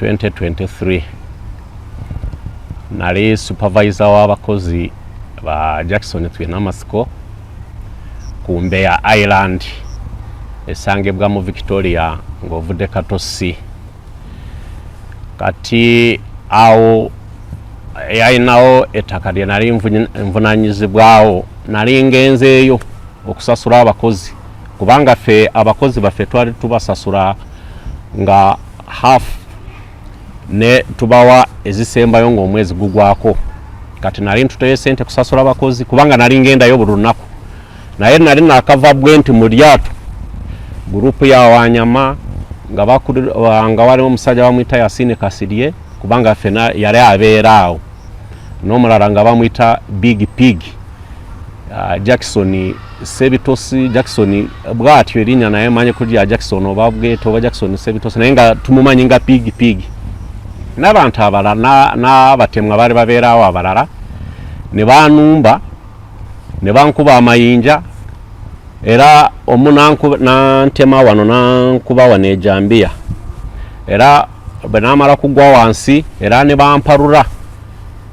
2023 nali supervisor w'abakozi ba Jackson Twinamasiko ku Mbeya Island esangibwa mu Victoria ng'ovudde Katosi kati awo yalinawo ettaka lye nali nvunanyizibwawo nali ngenzeeyo okusasula abakozi kubanga ffe abakozi baffe twali tubasasula nga half ne tubawa ezisembayo ng'omwezi gugwako kati nali ntuteyo sente kusasula bakozi kubanga nali ngendayo buli lunaku naye nali nakava bwe nti mu lyato gurupu ya wanyama nga nga waliwo omusajja bamwita yasini kasirye kubanga fena yali abeera awo n'omulala nga bamwita big pig Ah, jackson sebitosi jackson bwatyo erinya naye manye kuli ya jackson oba bwete oba jackson sebitosi naye nga tumumanyi nga pig pig n'abantu abalala n'abatemwa bali babeerawo abalala ne banumba ne bankuba amayinja era omu nantema wano nankuba wano ejambiya era bwe namala kugwa wansi era ne bamparura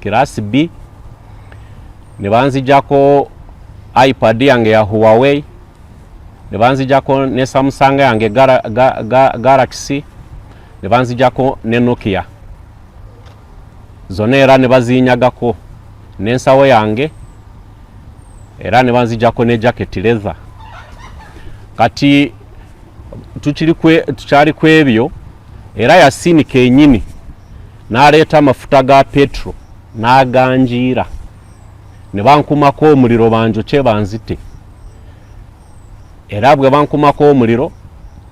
kiraasi bbi ne banzijako ipad yange ya huawei ne banzijako ne samsung yange galaxy ne banzijako ne nokia zona era ne bazinyagako nensawo yange era ne banzijako ne jacket leather kati tukyali kwebyo era yasinika enyini n'aleeta amafuta ga petro n'aganjiira ne bankumako omuliro banjokye banzite era bwe bankumako omuliro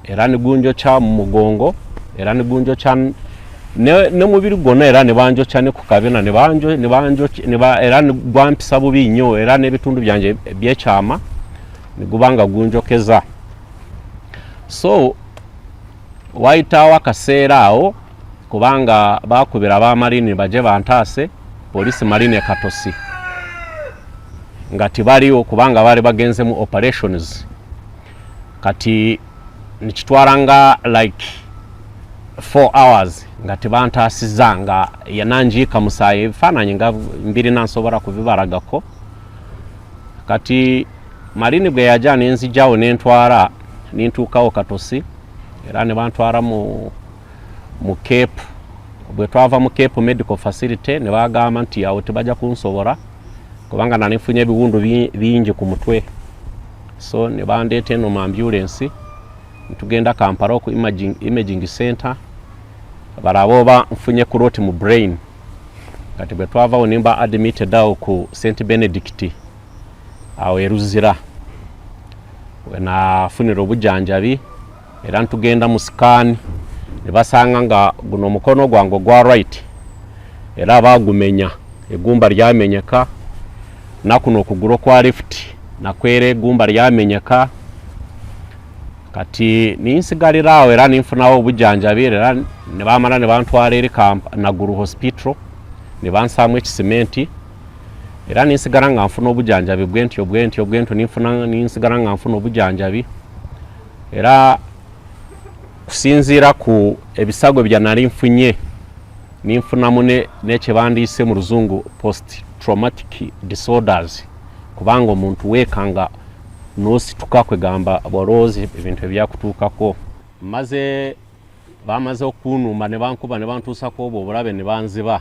era ne gunjokya mu mugongo era ne gunjokya nomubiri gwonna era nebanjokya ne ku kabina era negwampisa bubi nnyo era n'ebitundu byange byekyama neguba nga gunjokeza so wayitawo akaseera awo kubanga bakubira abamarini baje bantaase polisi marine katosi nga tibaliwo kubanga baali bagenze mu operations kati nikitwala nga like 4 hours nga tebantaasiza nga yananjiika musaayi ebifaananyi nga mbirina nsobola kubibalagako kati malini bwe yaja nenzijawo nentwala nintuukawo katosi era ne bantwala mu mu cape bwe twava mu cape medical facility ne bagamba nti awo tebajja kunsobola kubanga nali nfunye ebiwundu bingi ku mutwe so ne bandeeta eno mu ambulensi ntugenda kampala oku imaging, imaging center balaba oba nfunye kuroti mu brain kati bwe twavawo nimba admitted awo ku st benedict awo e Luzira wenafunira obujanjabi era ntugenda mu sikaani ne basanga nga guno omukono gwange ogwa right era baagumenya egumba lyamenyeka nakuno okugulu okwa left nakwera egumba lyamenyeka kati ninsigalira awo era ninfunawo obujanjabi era nebamala nebantwala eri naguru hospital nebansaamu ekisimenti era ninsigala nga nfuna obujanjabi bwentyo bwentyo bwentyo ninfuna ninsigala nga nfuna obujanjabi era kusinziira ku ebisago bya nali nfunye ninfunamu nekyebandiise mu luzungu post traumatic disorders kubanga omuntu weekanga nosituka kwegamba bwalowoozi ebintu ebyakutuukako maze baamaze okukunumba ne bankuba ne bantuusa ku obwo obulabe ne banziba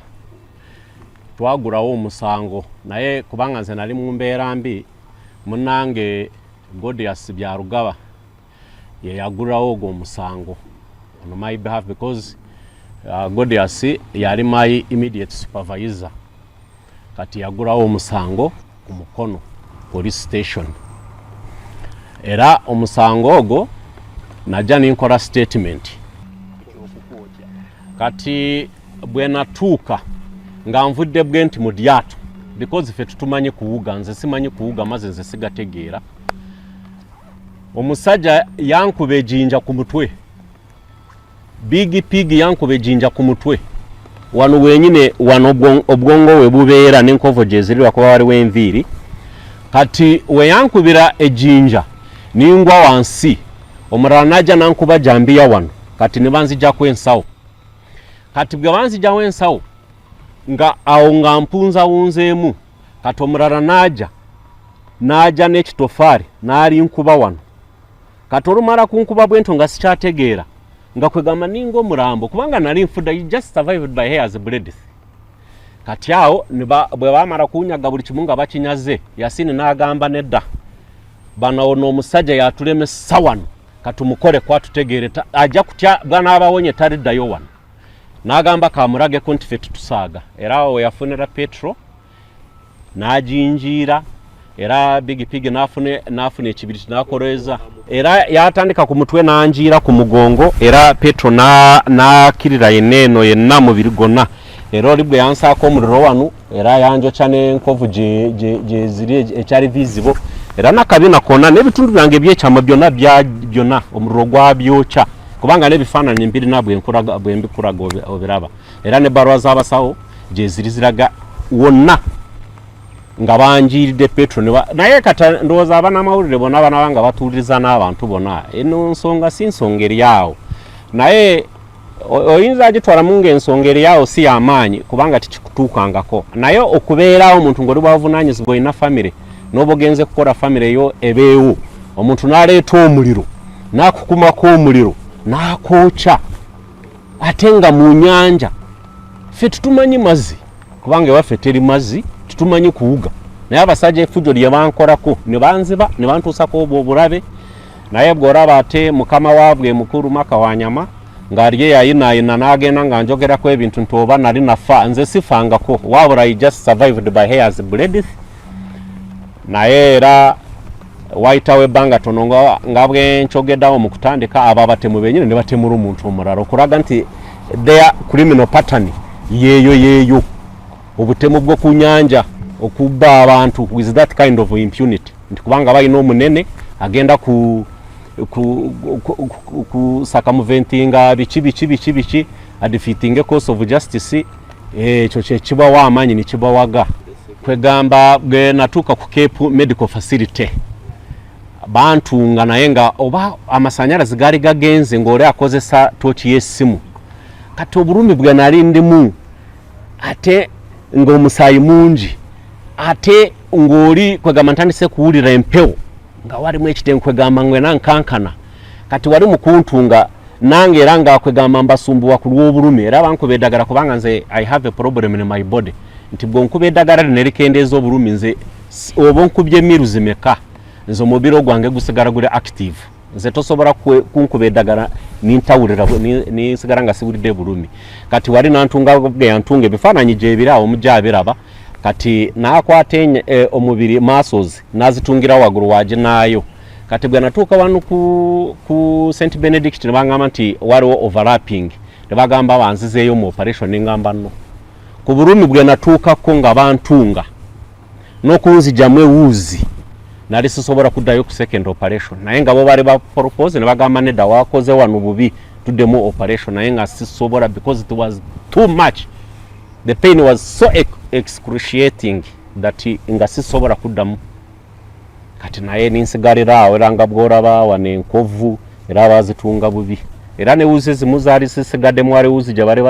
twagulawo omusango naye kubanga nze nali mu mbeera mbi munange godias byarugaba yeyagulawo ogwo omusango on my behalf because uh, godias yali my immediate supervisor kati yagulawo omusango ku mukono police station era omusango ogwo najja ninkola statement kati bwenatuuka nga nvudde bwe nti mu lyato because fe tutumanyi kuwuga nze simanyi kuwuga maze nze sigategeera omusajja yankuba ejinja ku mutwe big pig yankuba ejinja ku mutwe wano wenyine wano obwongo we bubeera n'enkovo gyezirirwa kuba waliwo enviiri kati weyankubira ejinja ningwa wansi omulala naja nankuba jambiya wano kati nebanzijaku ensawo kati bwe banzijawo ensawo nga awo nga mpunza wunzeemu kati omulala naja naja n'ekitofaari nalinkuba wano kati olumala kunkuba bwento nga sikyategeera nga kwegamba ninga omulambo kubanga nali nfudde you just survived by hairs bledith kati awo bwe bamala kunyaga buli kimu nga bakinyaze yasini n'agamba nedda banawo n'omusajja yatulemesa wano katumukole kwatutegeere ajja kutya bwanaabawonye taliddayo wano n'agamba kamulageko nti fe tutusaaga era awo weyafunira petro n'aginjiira era big pig n'afuna ekibiriti n'akoleeza era yatandika ku mutwe n'anjiira ku mugongo era petro n'akirira yenna eno yenna mubiri gwonna era oli bwe yansaako omuliro wano era yanjokya n'enkovu gyeziri ekyali vizibo era nakabina kona n'ebitundu byange ebyekyama byonna byona omuliro gwabyokya kubanga n'ebifaananyi mbirina bwembikulaga obiraba era ne balwa z'abasawo gyeziri ziraga wonna nga banjiiridde petro naye kati ndowooza abanamawulire bona banaba nga batuuliriza n'abantu bona eno nsonga si nsonga eri awo naye oyinza agitwalamu ngaensonga eri awo si yamaanyi kubanga tikikutuukangako naye okubeerawo omuntu ngaoli bwabuvunanyizibwa olina famiry noba ogenze kukola famiry yo ebeewo omuntu naleeta omuliro nakukumako omuliro nakwokya ate nga mu nyanja ffe tutumanyi mazzi kubanga ewaffe teri mazzi tutumanyi kuwuga naye abasajja efujjo lye bankolako ne banziba ne bantuusako obwo obulabe naye bw'olaba ate mukama waabwe mukulu maka wa nyama ng'ali eyayinaayina n'agenda nga njogerako ebintu nti oba nali nafa nze sifangako wabula i just survived by hairs bledith naye era wayitawo ebbanga tono nga bwenkyogedawo mu kutandika abo abatemu benyini ne batemula omuntu omulala okulaga nti their criminal pattern yeeyo yeeyo obutemu bwo ku nyanja okubba abantu with that kind of impunity nti kubanga balina omunene agenda ku kusaka muventinga biki biki biki biki adifeatinga course of justice Eh, ekyo kyekibawa amaanyi nekibawaga kwegamba bwenatuuka ku cape medical facility bantunga naye nga oba amasanyalazi gaali gagenze ngaoli akozesa tooki yesimu kati obulumi bwenali ndimu ate ngaomusaayi mungi ate ngaoli kwegamba ntandise kuwulira empewo nga walimu ekitenkwegamba ngwena nkankana kati wali mukuntunga nange era nga kwegamba mbasumbuwa ku lw'obulumi era bankuba eddagala kubanga nze i have a problem in my body nti bwonkuba eddagala lino erikendeeza obulumi nze oba onkubye emiru zimeka nze omubiri ogwange gusigala guli active nze tosobola kunkuba eddagala nintawulira ninsigala nga siwulidde bulumi kati wali nantunga geyantunga ebifaananyi gyebiraawo omujja abiraba kati nakwata eh, omubiri masozi nazitungira wagulu waginaayo kati bwe natuuka wano ku, ku st benedict ne bagamba nti waliwo overlapping ne bagamba banzizeeyo mu operation ne ngamba nno ku bulumi bwe natuukako nga bantunga n'okunzijamu ewuuzi nali sisobola kuddayo ku second operation naye nga bo baali bapropose ne bagamba nedda wakoze wano bubi tuddemu operation naye nga sisobola because it was too much the pain was so excruciating that nga sisobola kuddamu kati naye ninsigalira awo era nga bworaba wano enkovu era bazitunga bubi era ne wuzi zimu zaali zisigaddemu wali wuzi gye bali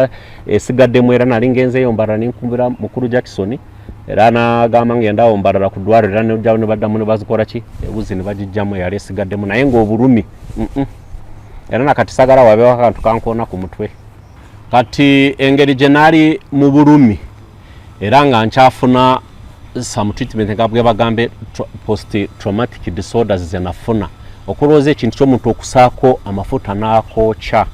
esigaddemu era nali ngenzeeyo mbarala ninkumbira mukulu jackson era nagamba ngenda awo mbarala ku ddwaliro era nejjawo ne baddamu ne bazikola ki ewuzi ne bagijjamu eyali esigaddemu naye ng'obulumi era nakati sagala wabeewo akantu kankoona ku mutwe kati engeri gye naali mu bulumi era nga nkyafuna some treatment nga bwebagambe post traumatic disorders zenafuna okulowooza ekintu kyomuntu okusaako amafuta n'akookya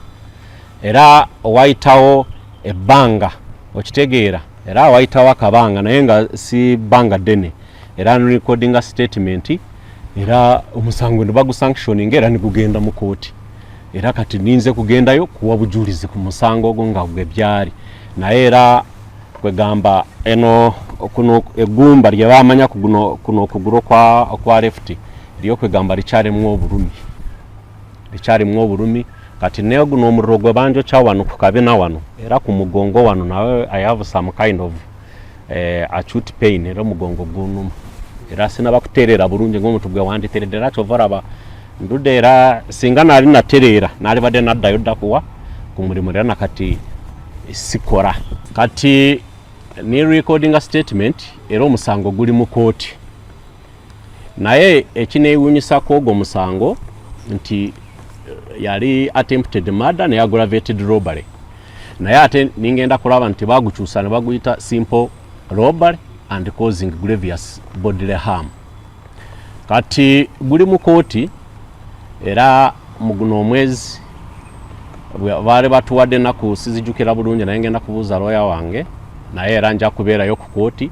era owayitawo ebbanga okitegeera era awayitawo akabanga naye nga si bbanga ddene era nrecordinga statement era omusango ne bagusanctioninga era negugenda mu kooti era kati ninze kugendayo kuwa bujulizi ku musango ogwo nga gwe byali naye era kwegamba eno kuno egumba lye bamanya kuno kuno okugulu kwa kwa left lyo kwegamba lichari mu obulumi lichari mu obulumi kati ne guno omuriro gwe banjo cha wano ku kabina wano era ku mugongo wano nawe i have some kind of eh, acute pain era omugongo gunuma era sinaba kutereera bulungi ngaomuntu gwe wanditeredde era kyova olaba ndudde era singa naali natereera naalibadde naddayo ddakuwa ku mulimu era nakati sikora kati ne recordinga statement era omusango guli mu kooti naye ekineewunyisa ku ogwo musango nti eh, yali attempted murder naye aggravated robbery naye ate ningenda kulaba nti bagukyusa ne baguyita simple robbery and causing gravious bodily harm kati guli mu kooti era mu guno omwezi baali batuwadde ennaku sizijukira bulungi naye ngenda kubuuza looya wange naye era nja kubeerayo ku kooti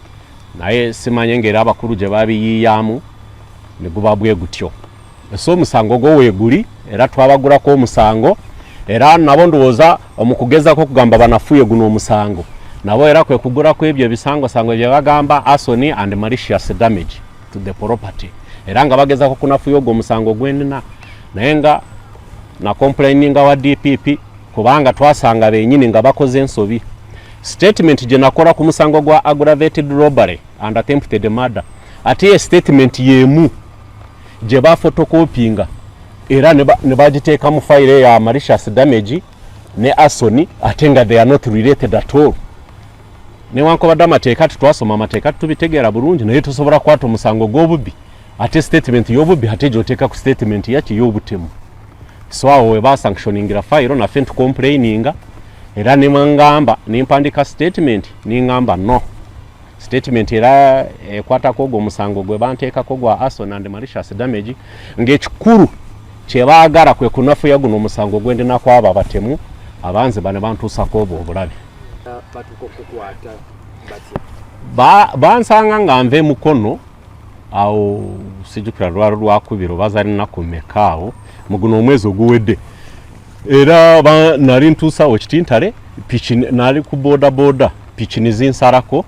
naye simanye ngera abakulu gye babiyiyamu ne guba bwe gutyo so omusango gwo weeguli era twabagulako omusango era nabo ndowooza omukugezako okugamba banafuye guno omusango nabo era kwe kugulako ebyo ebisangosango bye bagamba asony and malicious damage to the property era nga bagezako kunafuya ogwo omusango gwenina naye nga nakomplaininga wa dpp kubanga twasanga benyini nga bakoze ensobi Statement gye nakola ku musango gwa aggravated robbery and attempted murder ate ye statement y'emu gye bafotokopinga era ne bagiteeka mu fayiro ya malicious damage ne asoni ate nga they are not related at all newankubadde amateeka tetwasoma amateeka tetubitegeera bulungi naye tusobola kukwata omusango gw'obubbi ate statement y'obubbi ate gyoteeka ku statement yaki y'obutemu so awo webasanctioningira fayiro nafe ntucomplaininga era nemwangamba nempandika statement nengamba no statement era ekwatako eh, ogwo omusango gwe banteekako gwa ason and malicious damage ngaekikulu kyebaagala kwe kunafuya guno omusango gwendinaku abo abatemu abanze bane bantuusako obwo obulabe bansanga nga nva emukono awo sijukira lwalo lwakubira oba zali nnaku mmeka awo mu guno omwezi oguwedde era nali ntuusawo kitintale piki nali ku bodaboda piki nizinsarako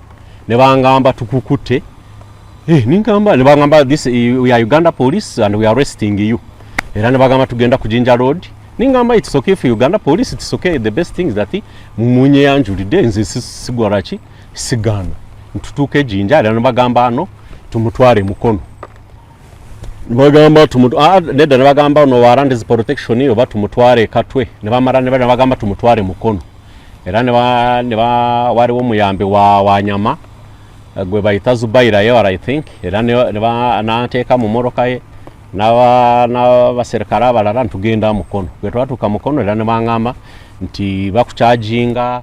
ne bangamba tukukutte eh, ningamba ne bangamba this we are uganda police and we are arresting you era ne bagamba tugenda ku jinja road ningamba it's okay for uganda police it's okay the best thing is that munye yanjulidde nze sigwalaki sigaana ntutuuka ejinja era nibagamba ano tumutwale mukono bagamba ah, nedda nibagamba no warandizi protection oba tumutwale katwe nibamala nibagamba tumutwale mukono era waliwo omuyambi wanyama eh, gwe bayita zubaira yewar i think era nanteeka mu moroka ye n'abaserikale abalala nitugenda mukono bwe twatuuka mukono era nibangamba nti bakukyajinga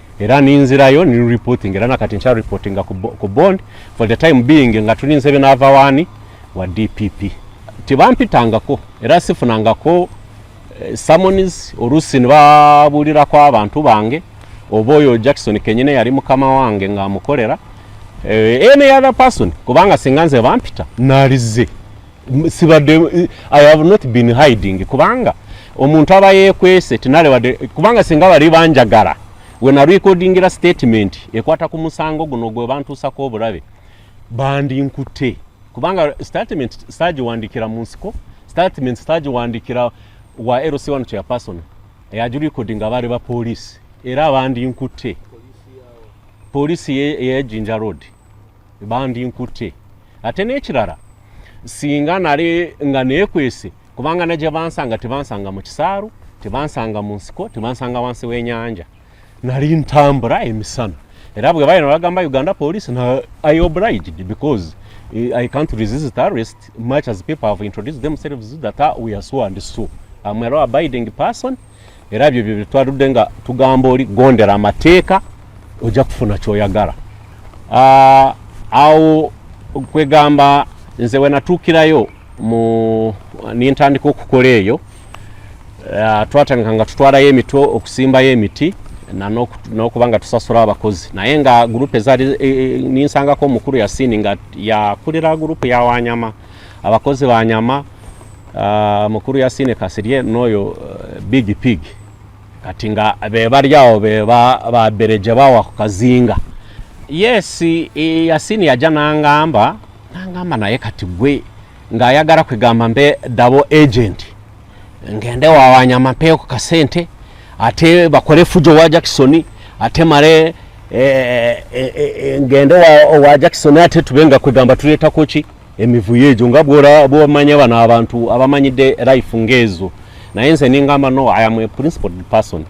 era ninzirayo ni reporting era nakati nkya reporting ku bond for the time being nga tulinze binava wani wa DPP tebampitangako era sifunangako eh, summons olusi nibabuulirako abantu bange oba oyo Jackson kenyine yali mukama wange nga amukolera eh, any other person kubanga singa nze bampita nalize sibadde eh, i have not been hiding kubanga omuntu aba yekwese tinale wadde kubanga singa bali banjagala wena recordingira statement ekwata ku musango guno gwe bantuusako obulabe bandi nkute kubanga statement sitagiwandikira mu nsiko statement sitagiwandikira wa lc one kya person eyagi recordinga abaali ba poliisi era abandi nkute poliisi eyejinja road bandi nkutte ate n'ekirala singa nale nga neekwese kubanga najja bansanga tebansanga mu kisaalu tebansanga mu nsiko tebansanga wansi w'enyanja nali ntambula emisana era bwe bayina bagamba uganda police na i obliged because eh, i can't resist arrest much as people have introduced themselves that ah, we are so and so am a law abiding person era byo byo twaludde nga tugamba oli gondera amateeka ojja kufuna kyoyagala ah, awo kwegamba nze wenatuukirayo mu nintandika okukola eyo ah, twatandika nga tutwalayo emitwe okusimbayo emiti nokuba nga tusasula abakozi naye nga gurupe zali e, e, ninsangako omukulu yasini nga yakulira gurupe yawanyama abakozi banyama Uh, mukuru Yasine Kasirye noyo uh, eh, big pig kati nga bebalya awo babereje bawa ku kazinga yes yasini yajja nangamba nangamba naye kati gwe ng'ayagala kwegamba mbe dabo agent ngende wawanyama mpeyo ku kasente ate bakole fujo wa jackson ate male e, e, e, ngende wa, wa jackson ate tube nga kwegamba tuleetako ki emivuyo egyo nga bwomanya bano abantu abamanyidde life ngaezo naye nze ningamba no i am a principled person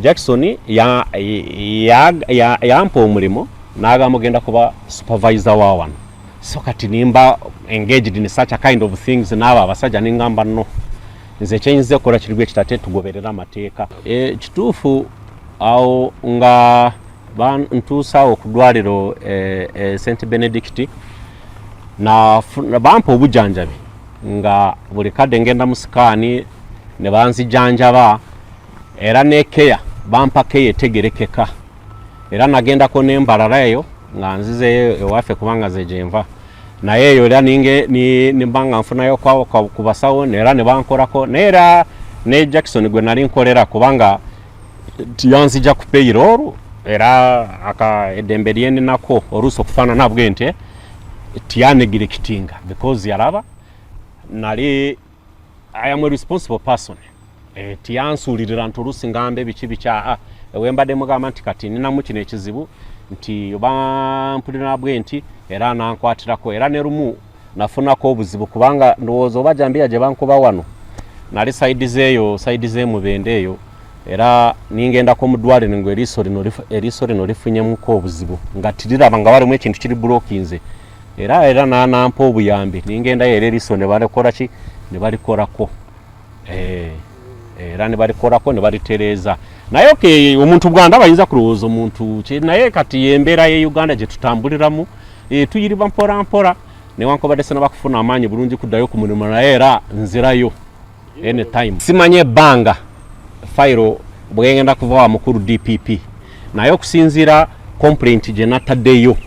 jackson yampa ya, ya, ya omulimu nagamba ogenda kuba supervisor wa wano so kati nimba engaged in such a kind of things naabo abasajja ningamba no nze kyenyinza okukola kirigu ekitate tugoberera amateeka e, kituufu awo nga bantuusa okudwaliro e, eh, e, eh, st benedict bampa obujanjabi nga buli kadde ngenda mu sikaani ne banzijanjaba era nekeya bampa keya etegerekeka era nagendako nembalala eyo nga nzizeyo ewaffe kubanga zejenva naye eyo era ninge nimbanga nfunayo ku basawo era nebankorako naye era ne jackson gwe nali nkolera kubanga yanzija ku payroll era aka eddembe lyeninako oluusi okufaanana bwe nti tiyanegire kitinga because yalaba nali i am a responsible person eh, tiyansuulirira nti oluusi ngamba ebiki bikyaa ah, ewembadde mugamba nti kati ninamu kino ekizibu nti oba mpulira bwe nti era nankwatirako era ne lumu nafunako obuzibu kubanga ndowooza oba jambiya gye bankuba wano nali saidi zeeyo saidi z'emubende eyo era ningendako mu ddwaliro nga eriiso lino lifunyemuko obuzibu nga tiriraba nga walimu ekintu kiri bulokinze era era nanampa obuyambi ningendayo era eriiso ne balekoraki ne balikorako eh, era ne balikorako ne balitereeza naye okay, omuntu bwanda bayinza kulowooza omuntu kye naye kati embeera ye uganda gye tutambuliramu e, tuyiriba mporampora newankubadde sena bakufuna amaanyi bulungi kuddayo ku mulimu naye era nzirayo anytime simanye ebbanga fayiro bwegenda kuva wa mukulu dpp naye okusinziira complaint gye nataddeyo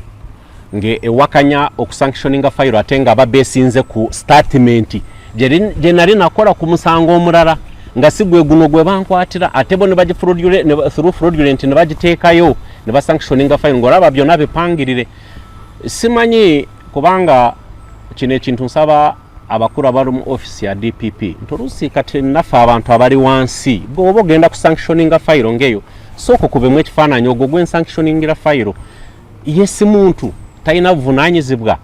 nge ewakanya okusanctioninga fayiro ate nga aba besinze ku statimenti gye nali nakola ku musango omulala nga si gwe guno gwe bankwatira ate bo through fraudulent ne bagiteekayo ne basanctioninga fayiro ngaolaba byonna bipangirire simanyi kubanga kino ekintu nsaba abakulu abali mu ofisi ya dpp nti oluusi kati naffe abantu abali wansi bwoba ogenda ku sanctioninga fayiro ngaeyo sooka okubemu ekifaananyi ogwo gwensanctioningira fayiro ye si muntu talina buvunanyizibwa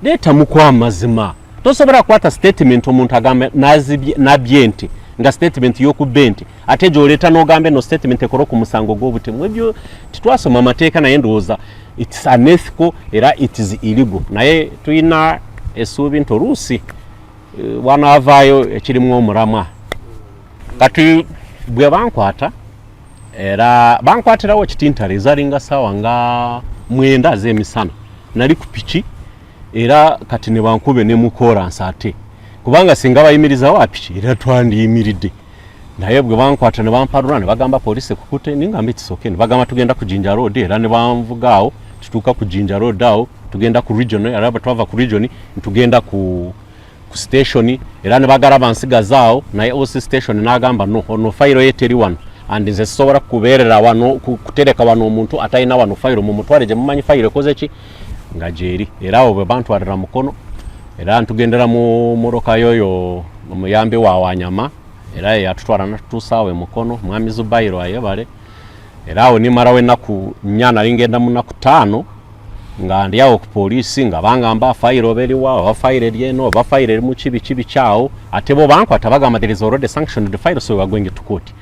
leetamuku amazima tosobola kukwata statement omuntu agamba nabye ente nga statement yokubba ente ate gyoleeta nogamba eno statement ekora ku musango gwobutemu ebyo titwasoma amateeka naye ndowooza its unethical era itis illegal naye tulina esuubi nti oluusi eh, wanavaayo ekirimu omulamwa kati bwe bankwata era bankwatirawo kitintale ezalinga saawa nga mwenda azemisana nali ku piki era kati ne bankube ne mukolansi ate kubanga singa bayimirizawo apiki era twandiyimiridde naye bwe bankwata ne bamparula ne bagamba poliisi ekukute ningamba ekisoke ne bagamba tugenda ku jinja road era ne banvugaawo tutuuka ku jinja road awo tugenda ku region era bwe twava ku region ntugenda ku ku station era ne bagala bansigazaawo naye oc station n'agamba no ono fayiro ye teri wano and nze sisobola kubeerera wano kutereka wano omuntu atalina wano fayiro mu mutwale gye mumanyi fayiro ekoze ki nga gyeri era awo bwe bantwalira mukono era ntugendera mu motoka yoyo omuyambi wa wanyama era yeyatutwala natutuusaawo emukono mwami zubairo ayebale era awo nimarawo enaku nya nali ngenda munaku taano nga ndyawo ku poliisi nga bangamba fayiro oba eriwa oba fayiro eri eno oba fayiro eri muki biki biki awo ate bo bankwata bagamba there is already sanctioned the file so we are going to court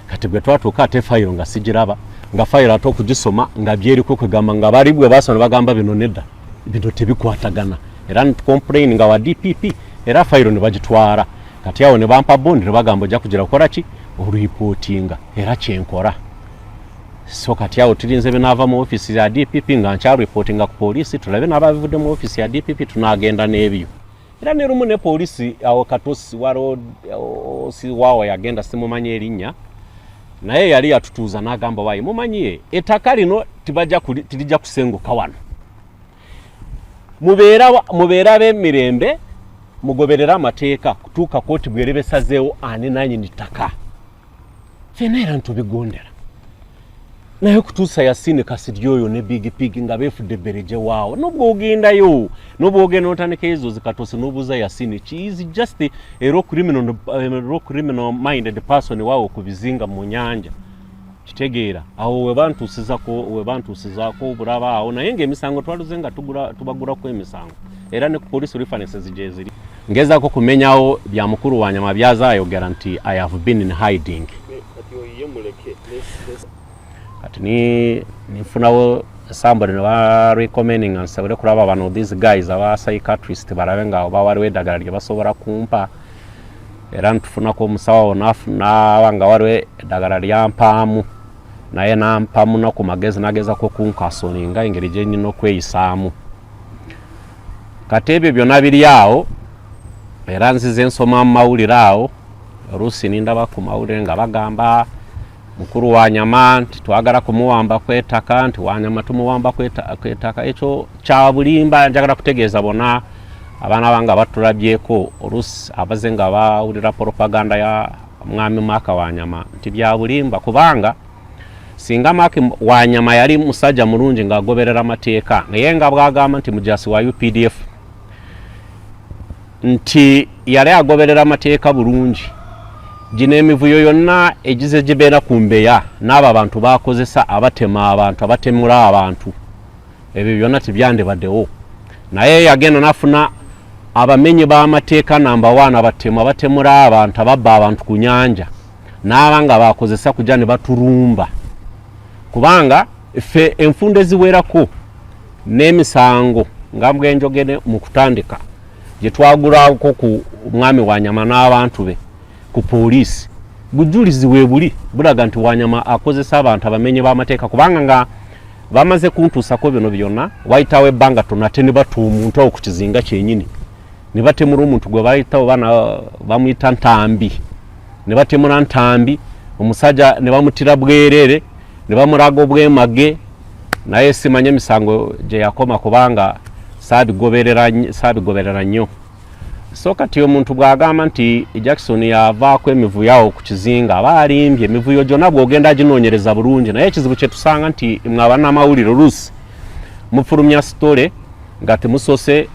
kati bwe twatuuka ate fayiro nga sigiraba nga fayiro ate okugisoma nga byeriko kwegamba nga bali bwe basoma bagamba bino nedda bino tebikwatagana era ntcomplain nga wa dpp era fayiro ne bagitwala kati awo ne bampa bondi ne bagamba ojja kugira kukola ki oluyipootinga era kyenkora so kati awo tulinze binaava mu ofiisi ya dpp nga nkyaluyipootinga ku poliisi tulabe n'ababivudde mu ofiisi ya dpp tunaagenda n'ebyo era ne lumu ne poliisi awo katosi waroosiwawo yagenda simumanyi erinnya naye yali yatutuuza n'agamba wayi mumanyiye ettaka lino tirijja kusenguka wano mubeera b'emirembe mugoberere amateeka kutuuka kooti bwerebesazeewo ani nanyini ttaka fena era ntubigondera naye okutuusa yasini kasirye oyo ne big pig nga beefudde bereje waawo nobwogendayo nobwogenda notandika ezo zikatosi nobuuza yasini kiizi just era criminal minded person waawo ku bizinga mu nyanja kitegeera awo webantuusizako webantuusizako obulaba awo naye ngaemisango twaluze nga tubaguraku emisango era ne ku police references gyeziri ngezako kumenyawo bya mukulu wa nyama byaza ayogera nti i have been in hiding kati ni nifunawo somebody ne ba recommending nsobole kulaba bano these guys aba psychiatrist balabe nga oba waliwo eddagala lye basobola kumpa era ntufunako omusawo naba nga waliwo eddagala lyampaamu naye nampamu naku magezi nagezako kunkasoninga engeri gyenyina okweyisaamu kati ebyo byona biri awo era nzize nsoma mu mawulire awo oluusi nindaba ku mawulire nga bagamba mukulu wa nyama nti twagala kumuwamba kwetaka nti wanyama tumuwamba kwetaka ekyo kyabulimba njagala kutegeeza bona abaana bange abatulabyeko oluusi abaze nga bawulira propaganda ya mwami mwaka wa nyama nti byabulimba kubanga singa maki wanyama yali musajja mulungi ng'agoberera amateeka naye nga bwagamba nti mujasi wa updf nti yali agoberera amateeka bulungi gino emivuyo yonna egize gibeera ku mbeya n'abo abantu bakozesa abatema abantu abatemula abantu ebyo byonna tibyandibadewo naye yagenda nafuna abamenyi b'amateeka namba waana batemu abatemula abantu ababba abantu ku nyanja naaba nga bakozesa kuja ne baturumba kubanga ffe enfunda eziwerako n'emisango nga mbwenjogere mu kutandika gye twagulako ku mwami wa nyama n'abantu be ku poliisi bujulizi weebuli bulaga nti wanyama akozesa abantu abamenye b'amateeka kubanga nga bamaze kuntuusako bino byonna wayitawo ebbanga tonate ne bata omuntu awo ku kizinga kyenyini nebatemura omuntu gwe bayita oba bamuyita ntambi nebatemura ntambi omusajja nebamutira bwerere nebamuraga obwemage naye simanya emisango gyeyakoma kubanga sabigoberera nnyo so kati omuntu bwagamba nti jackson yavaako emivuyawo ku kizinga aba alimbye emivuyo gyona bwogenda ginonyereza bulungi naye ekizibu kyetusanga nti mwe abanamawulire oluusi mufulumya story nga temusose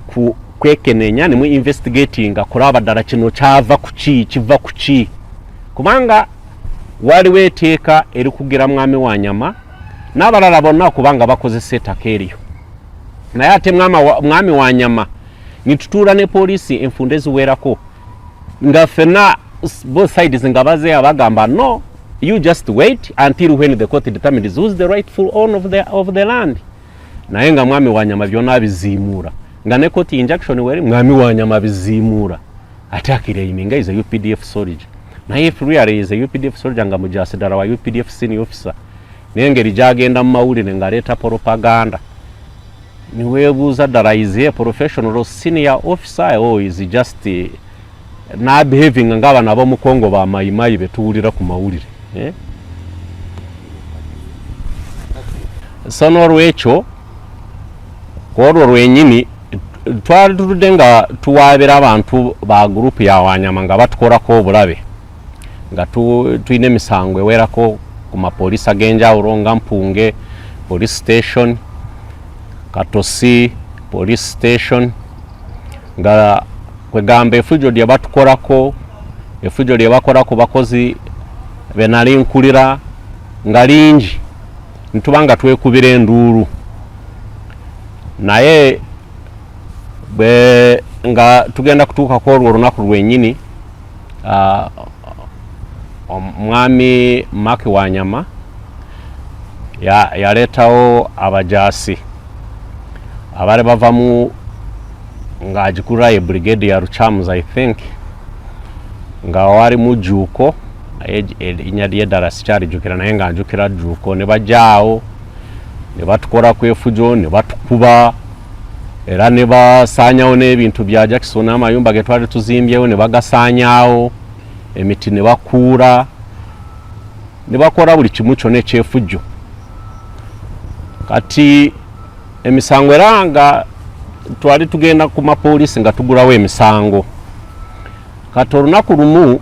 ku kwekenenya ne mu investigating kulaba dala kino kyava kuki kiva kuki kubanga waliwo eteeka erikugira mwami wa nyama n'abalala bonna kubanga bakozesa ettaka eryo naye ate mwami wa nyama nitutuula ne poliisi enfunda eziwerako nga fena both sides nga bazeya bagamba no You just wait until when the court determines who's the rightful owner of the, of the land. Naye nga mwami wa nyama byona abiziimuura nga ne court injunction weri mwami wa nyama abiziimuura ate akiraiminga is a UPDF soldier. Naye if really is a UPDF soldier nga mujasidara wa UPDF senior officer nengeri gyagenda mu mawulire ng'aleeta propaganda niweebuuza ddala is a professional senior officer or is just nabehavinga ngaabana abomukongo ba mayimayi betuwulira ku mawulire eh? so nolwekyo olwo lwenyini twali tuludde nga tuwaabira abantu ba gurupu ya wanyama nga batukolako obulabe nga tulina emisango ewerako ku mapoliisi ag'enjawulo nga mpunge police station katosi police station nga kwegamba efujo lyebatukorako efujo lyebakora ku bakozi benali nkulira nga lingi nituba nga twekubira enduulu naye bwe nga tugenda kutuukaku olwo olunaku lwenyini uh, omwami maki wa nyama yaleetawo ya abajaasi abaali bava mu nga agikura ye brigade ya rucamus i think nga wali mujuko erinya lye ddala sikyalijukira naye nga njukira juko ne bajaawo ne batukola ku efujo ne batukuba era ne basaanyawo n'ebintu bya jackson n'amayumba ge twali tuzimbyewo ne bagasaanyawo emiti ne bakuula ne bakola buli kimu kyona ekyefujjo kati emisango era nga twali tugenda ku mapoliisi nga tugulawo emisango kati olunaku lumu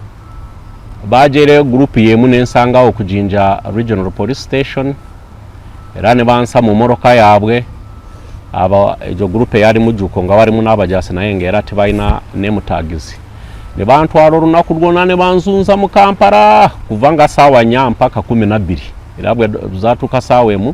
bajereyo gurupu yemu nensangawo okujinja regional police station era ne bansa mu moroka yaabwe aba egyo gurupu eyali mujuko nga walimu n'abajasi naye nga era tebalina nemutagizi ne bantwala olunaku lwona ne banzunza mu kampala kuva nga saawa nya mpaka kumi nabbiri era bwe zatuuka saawa emu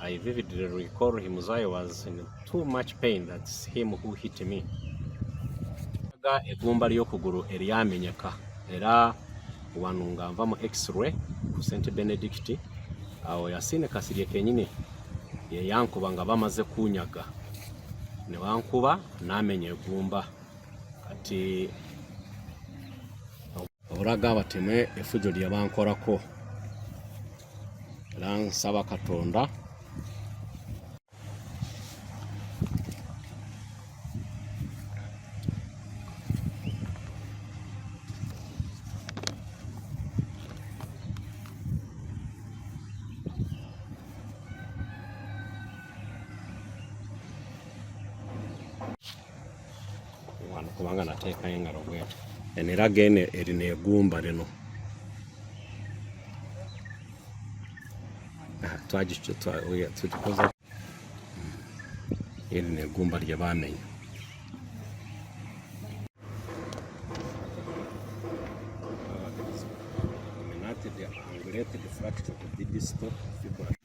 I vividly recall him as I was in too much pain that's him who hit me. Aga egumba ly'okugulu eryamenyeka era wano nga nva mu x-ray ku St Benedict awo Yasine Kasirye kenyini ye yankuba nga bamaze kunyaga ne wankuba n'amenya egumba kati obulaga abateme efujo lye bankolako era nsaba katonda wano kubanga nateekayo engalo bweti eno era gene erina egumba lino ah, twagikoza erina egumba lye bamenya related fracture of the distal fibula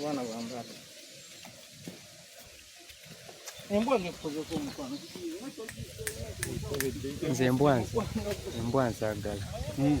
Bwana bwana. nze embwanzi embwanzi agala hmm,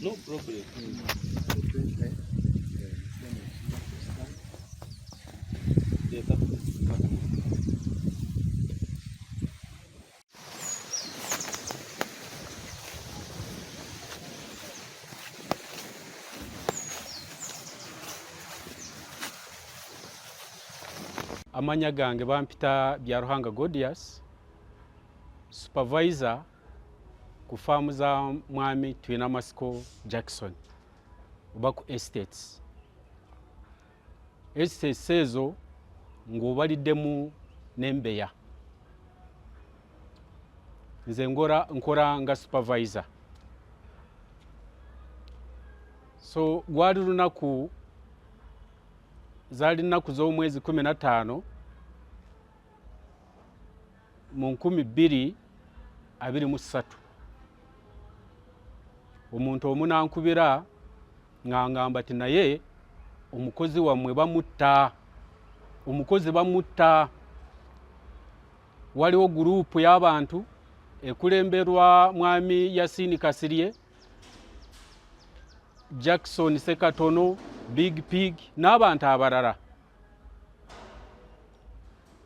No problem. amanya gange bampita bya ruhanga godias Supervisor ku faamu za mwami tulina masiko Jackson oba ku estates. Estates ezo ng'obaliddemu n'embeya. Nze nkora nga supervisor. So gwali lunaku zaali nnaku z'omwezi kumi na ttaano mu nkumi bbiri abiri mu ssatu omuntu omunankubira ng'angamba ti naye omukozi wammwe bamutta omukozi bamutta waliwo guruupu y'abantu ekulemberwa mwami yasini kasirye jackson sekatono big pig n'abantu abalala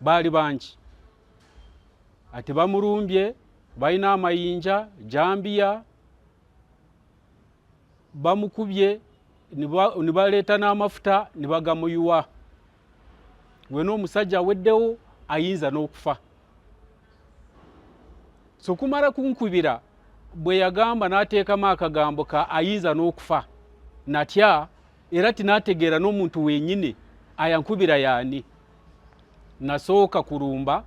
baali bangi ate bamulumbye balina amayinja jambiya bamukubye ne baleeta n'amafuta ne bagamuyuwa wena omusajja aweddewo ayinza n'okufa sokumala kunkubira bwe yagamba n'ateekamu akagambo ka ayinza n'okufa natya era tinategeera n'omuntu wenyini ayankubira yaani nasooka kulumba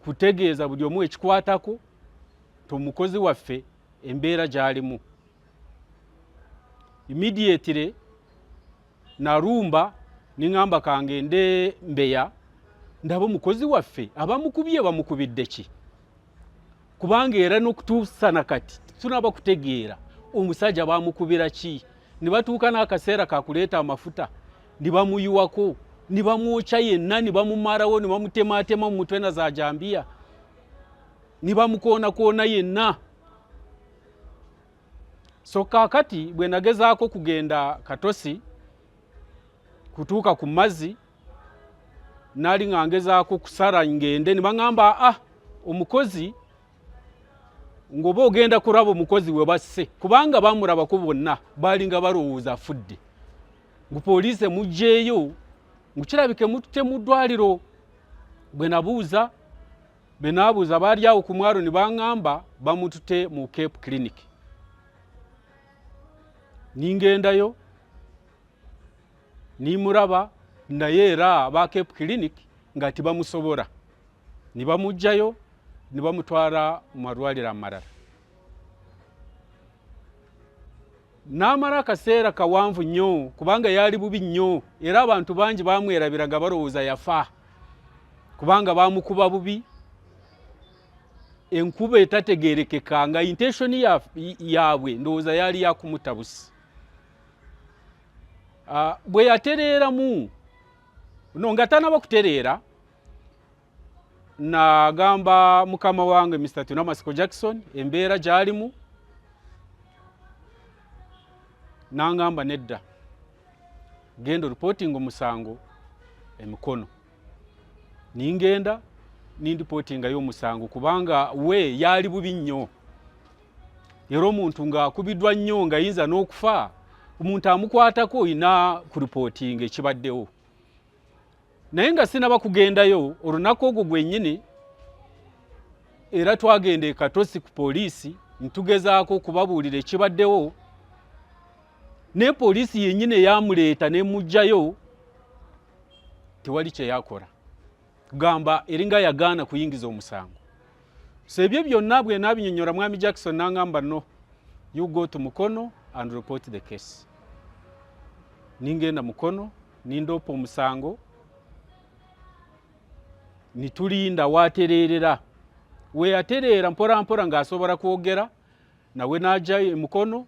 kutegeeza buli omu ekikwatako nti omukozi waffe embeera gyalimu imidiatire nalumba ningamba kange nde mbeya ndaba omukozi waffe abamukubye bamukubidde ki kubanga era n'okutuusa na kati tunaba kutegeera omusajja bamukubira ki ne batuuka n'akaseera kakuleeta amafuta ne bamuyiwako ne bamwokya yenna ne bamumalawo ne bamutemaatema mu mutwe na za jambiya ne bamukoonakoona yenna so kaakati bwe nagezaako kugenda katosi kutuuka ku mazzi nali nga ngezaako kusala ngende ne baŋamba a ah, omukozi ng'oba ogenda kulaba omukozi we basse kubanga bamulabako bonna baalinga balowooza afudde ngu poliisi emugyeeyo ngu kirabike mutte mu ddwaliro bwe nabuuza be naabuuza baali awo ku mwalo ne baŋŋamba bamutute mu cape clinic ningendayo nimuraba naye era ba cape clinic nga tibamusobora nibamugjayo nibamutwara mu malwaliro amarara namara akaseera kawanvu nnyo kubanga yaali bubi nnyo era abantu bangi bamwerabiraga balowooza yafa kubanga bamukuba bubi enkuba etategerekeka nga inteshoni yaabwe ndowooza yaali yakumutabusi Ah, bwe yatereeramu no nga tanaba kutereera nagamba mukama wange mr tunamasiko jackson embeera gyalimu nangamba nedda genda oripootinga omusango emikono ningenda nindipotingayo omusango kubanga we yaali bubi nnyo era omuntu ng'akubiddwa nnyo nga yinza n'okufa omuntu amukwatako olina kuripotinga ekibaddewo naye nga sinaba kugendayo olunaku ogwo gwennyini era twagenda ekatosi ku poliisi ntugezaako okubabuulira ekibaddewo naye poliisi yennyini eyamuleeta nemugjayo tewali kyeyakola gamba eringa yagaana kuyingiza omusango so ebyo byonna bwe nabinyonyola mwami jackson nangamba no you go to mukono and report the case ningenda mukono nindoopa omusango nitulinda watereerera weyatereera mporampora ng'asobola kwogera nawe n'ajayo emukono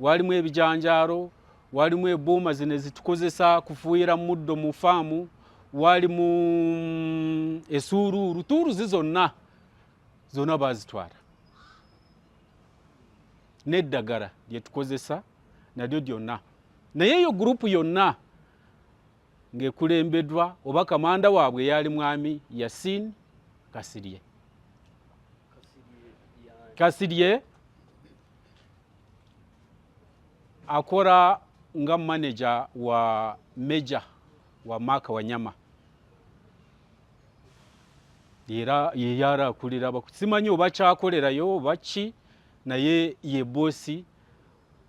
walimu ebijanjaalo walimu ebuuma zino ezitukozesa kufuuyira muddo mu faamu walimu mm, esuuluulu tuuluzi zonna zonna bazitwala n'eddagala lyetukozesa nalyo lyonna naye eyo gurupu yonna ng'ekulembedwa oba kamanda waabwe eyaali mwami yasin kasirye kasirye akora nga maneja wa meja wa maka wanyama era yeyara akulira simanyi obakyakolerayo obaki naye ye bosi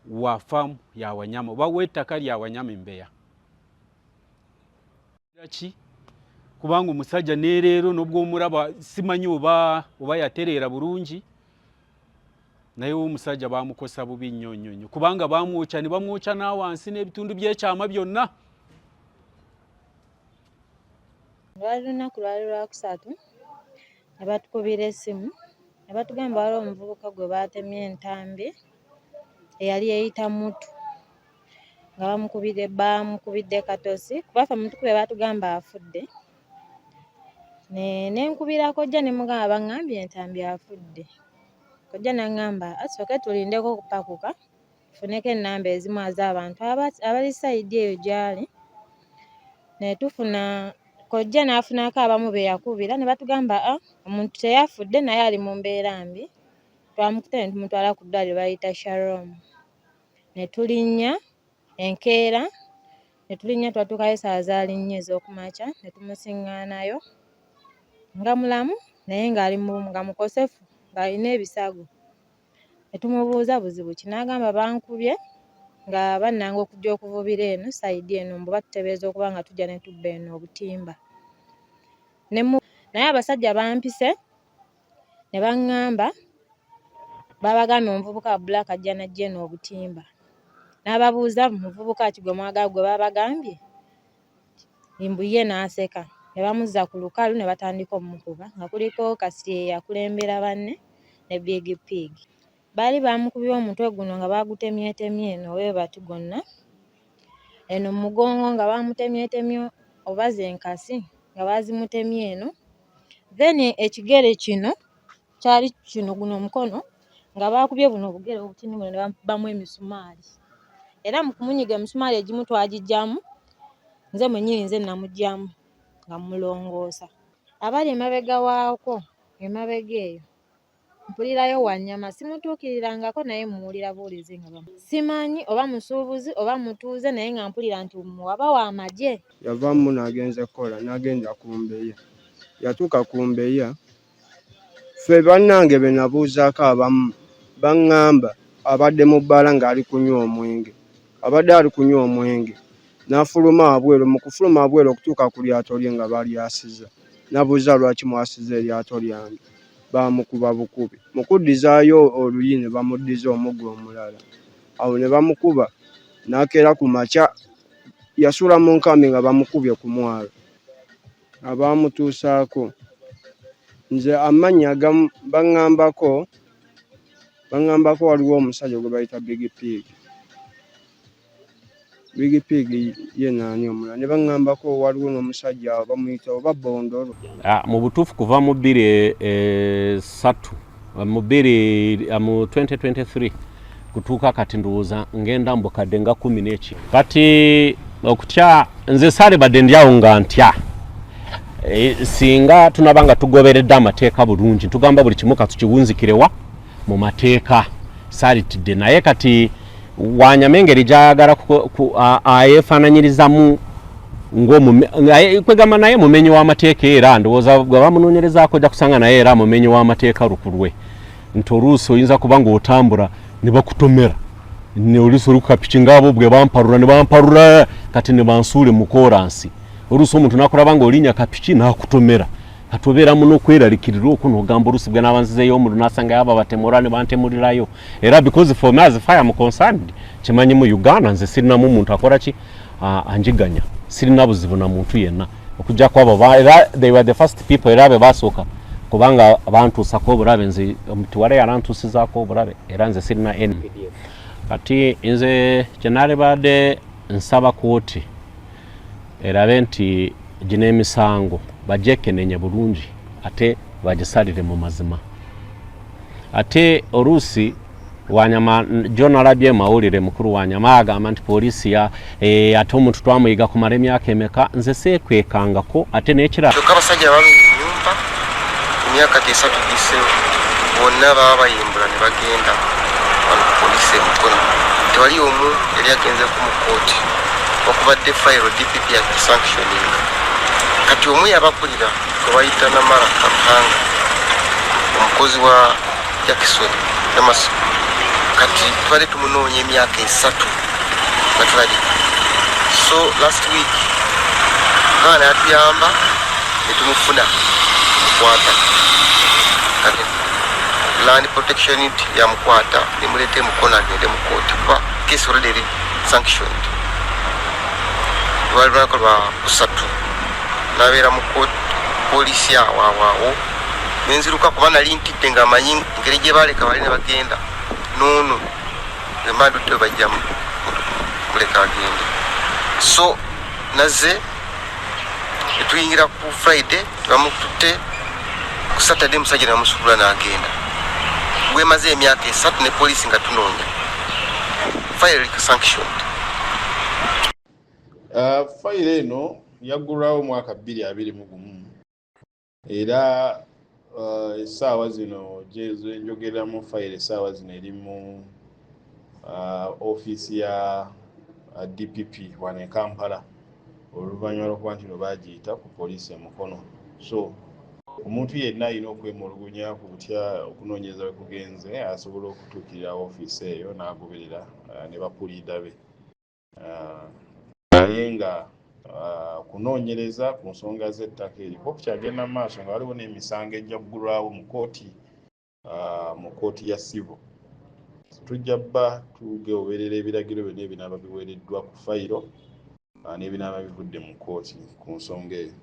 wa faamu ya wanyama oba w'ettaka lya wanyama embeya ki kubanga omusajja nereero nobwo omulaba simanyi oba oba yatereera bulungi naye omusajja bamukosa bubi nnyo nnyo nnyo kubanga bamwokya ne bamwokya n'awansi n'ebitundu byekyama byonna lwali lunaku lwali lwakusatu ne batukubira essimu ne batugamba waliwo omuvubuka gwe baatemye entambi eyali eyita mutu nga bamukubidde baamukubidde katosi kuba ffe mutukube baatugamba afudde ne ne nkubira kojja ne mugamba bangambye entambi afudde kojja nangamba asooke tulindeko okupakuka tufuneko ennamba ezimu az'abantu abali sayidi eyo gy'ali ne tufuna kojja n'afunaako abamu be yakubira ne batugamba a ah, omuntu teyafudde naye ali mu mbeera mbi Twamukutte ne tumutwala ku ddwaaliro bayita Sharom ne tulinnya enkeera ne tulinnya twatuukayo essaawa zaali nnya ez'oku makya ne tumusiŋŋaanayo nga mulamu naye ng'ali nga mukosefu ng'alina ebisago ne tumubuuza buzibu ki n'agamba bankubye nga bannanga okujja okuvubira eno sayidi eno mbu batutebeeza okuba nga tujja ne tubba eno obutimba naye abasajja bampise ne baŋŋamba baabagambye omuvubuka wa Black ajja n'ajja eno obutimba n'ababuuza muvubuka ki gwe mwagala gwe baabagambye mbu ye n'aseka ne bamuzza ku lukalu ne batandika okumukuba nga kuliko Kasirye eyakulembera banne ne Big Pig. Baali baamukubye omutwe guno nga baagutemyetemye eno webati gwonna, eno mu mugongo nga baamutemyetemye oba ze nkasi nga baazimutemye eno. Then ekigere kino kyali kino guno omukono nga baakubye buno obugere obutini buno ne bamukubamu emisumaali. Era mu kumunyiga emisumaali egimu twagiggyamu, nze mwennyini nze namuggyamu nga mmulongoosa. Abali emabega waakwo, emabega eyo. Mpulirayo Wanyama simutuukirirangako naye mmuwulira buwulizi nga bamu. Simanyi oba musuubuzi oba mutuuze naye nga mpulira nti waba wa magye. Yava mu muno agenze kukola n'agenda ku Mbeya. Yatuuka ku Mbeya, ffe bannange be nabuuzaako abamu bang'amba abadde mu bbaala ng'ali kunywa omwenge. Abadde ali kunywa omwenge n'afuluma wabweru, mu kufuluma wabweru okutuuka ku lyato lye nga balyasiza. Nabuuza lwaki mwasiza eryato lyange? baamukuba bukubi. Mu kuddizaayo oluyi ne bamuddiza omuggo omulala. Awo ne bamukuba n'akeera ku makya yasula mu nkambi nga bamukubye ku mwalo. Abaamutuusaako nze amannya agamu bangambako bangambako waliwo omusajja gwe bayita Big Pig. Big Pig ye naani omulala ne baŋŋambako waliwo n'omusajja awo bamuyita oba Bondolo. Ah, mu butuufu kuva mu bbiri esatu eh, mu bbiri eh, mu 2023 kutuuka kati ndowooza ngenda mbukadde nga kumi n'eki kati okutya nze saalibadde ndyawo nga ntya eh, singa tunaba nga tugoberedde amateeka bulungi tugamba buli kimu katukiwunzikirewa mu mateeka salitidde naye kati wanyama engeri gyayagala ayefananyirizamu kwegamba naye mumenyi w'amateeka era ndowooza gwe bamunoonyerezaako ojja kusanga naye era mumenyi w'amateeka lukulwe nti oluusi oyinza kuba ng'otambula ne bakutomera oluusi oli kukapiki ngaabo bwe bamparula ne bamparula kati ne bansuule mu kooransi oluusi omuntu nakulaba ng'olinya kapiki n'akutomera kati obeeramu n'okweralikirira okwo n'ogamba oluusi bwe naaba nzizeeyo omuliro nasangayo abo abatemura ne bantemulirayo era because for me as fire am concerned kimanyi mu uganda nze sirinamu muntu akola ki anjiganya sirina buzibu na muntu yenna okujjako abo era they were the first people era be basooka kubanga bantuusako obulabe nze omutuwala yalantuusizaako obulabe era nze sirina n kati nze kyenalibadde nsaba kooti erabe nti gino emisango bagyekenenye bulungi ate bagisalire mu mazima ate oluusi wanyama gyonalabye emawulire mukulu wanyama agamba nti poliisi ya e, ate omuntu twamuyiga kumala emyaka emeka nze seekwekangako ate n'ekirala emyaka tesatu gise bonna baba bayimbula ne bagenda wano ku poliisi emukono tewali omu yali agenzeku mu kooti okubadde fayiro dpp yakisanctioninga kati omu yabakulira gwebayita namara kampanga omukozi wa Jackson Namaso kati tubadde tumunoonya emyaka esatu nga tulabye so last week mwana yatuyamba netumufuna mukwata kati land protection unit yamukwata nemuleeta emukono agende mu kooti kuba case already eri sanctioned lwali lunako lwa kusatu nabeera mu polisi awaawaawo nenziruka kuba nali ntidde nga amanyi ngeri gye baaleka bali ne bagenda noono emba ndudde bajja muleka agende so naze netuyingira ku friday tebamukutte ku saturday musajja namusubula n'agenda gwemaze emyaka esatu ne poliisi nga tunoonya fire sanction uh, fire eno yaggulwawo omwaka bbiri abiri mu gumu era uh, essaawa zino gyenjogeramu fayiro essaawa zino eri mu uh, ofiisi ya uh, dpp wano e kampala oluvannyuma lwokuba nti no bagiyita ku poliisi e mukono so omuntu yenna alina okwemulugunya ku butya okunoonyereza we kugenze asobola okutuukirira ofiisi eyo n'agoberera ne bapuliida be naye nga okunoonyereza ku nsonga z'ettaka eryo kuba kukyagenda mu maaso nga waliwo n'emisango ejja kugulwawo mu kooti mu kooti ya sivo tujja bba tugeoberera ebiragiro byonna ebinaaba biweereddwa ku fayiro n'ebinaaba bivudde mu kooti ku nsonga eyo